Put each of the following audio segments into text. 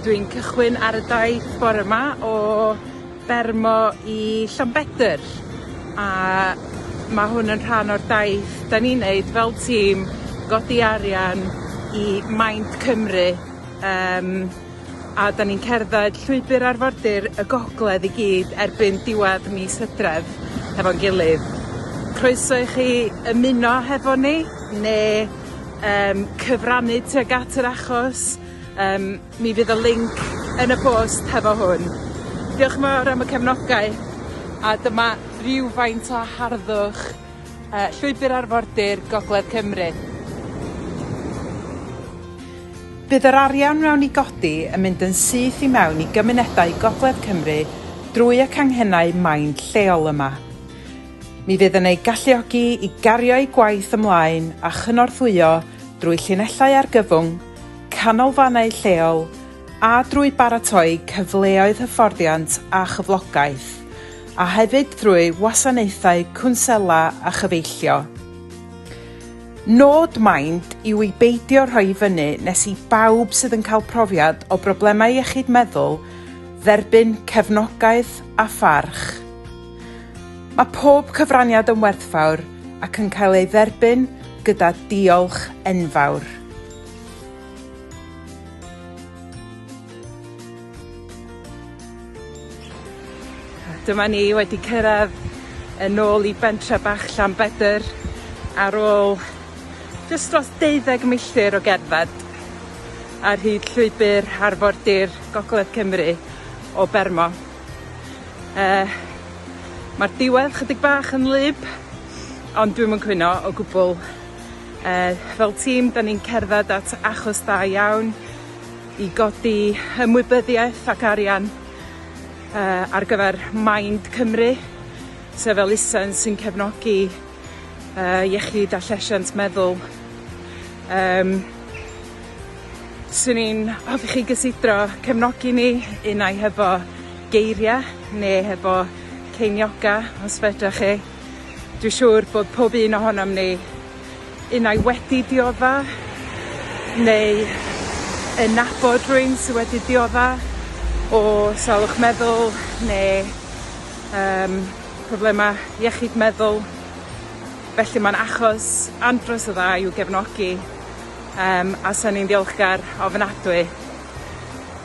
Dwi'n cychwyn ar y daith bore 'ma o Bermo i Llanbedr a ma' hwn yn rhan o'r daith 'dan ni'n neud fel tîm godi arian i Mind Cymru yym a 'dan ni'n cerdded llwybyr arfordir y gogledd i gyd erbyn diwadd mis Hydref hefo'n gilydd. Croeso i chi ymuno hefo ni ne' yym cyfrannu tuag at yr achos Yym, mi fydd y linc yn y post hefo hwn. Diolch yn fawr am y cefnogaeth, a dyma rywfaint o harddwch yy Llwybr Arfordir Gogledd Cymru. Bydd yr arian mewn i godi yn mynd yn syth i mewn i gymunedau Gogledd Cymru drwy y canghennau main lleol yma. Mi fydd yn eu galluogi i gario'u gwaith ymlaen a chynorthwyo drwy llinellau argyfwng, canolfannau lleol a drwy baratoi cyfleoedd hyfforddiant a chyflogaeth, a hefyd drwy wasanaethau cwnsela a chyfeillio. Nod Mind yw i beidio rhoi i fyny nes i bawb sydd yn cael profiad o broblemau iechyd meddwl dderbyn cefnogaeth a pharch. Mae pob cyfraniad yn werthfawr ac yn cael ei dderbyn gyda diolch enfawr. Dyma ni wedi cyrradd yn ôl i bentre bach Llanbedr ar ôl jyst dros deuddeg milltir o gerdded ar hyd llwybyr arfordir gogledd Cymru o Bermo. Yy ma'r diwedd chydig bach yn wlyb ond dwi'm yn cwyno o gwbwl. Yy, fel tîm, 'dan ni'n cerdded at achos da iawn i godi ymwybyddiaeth ac arian yy ar gyfer Mind Cymru, sef elusen sy'n cefnogi yy iechyd a llesiant meddwl. Yym. 'swn i'n hoffi chi gysidro cefnogi ni, unai hefo geiria' ne' hefo ceiniog os fedrach chi. Dwi siŵr bod pob un ohonom ni, unai wedi diodda' neu yn nabod rhywun sy wedi diodda' o salwch meddwl ne' yym problema' iechyd meddwl, felly ma'n achos andros o dda i'w gefnogi yym a 'san ni'n ddiolchgar ofnadwy.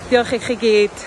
Diolch i chi gyd.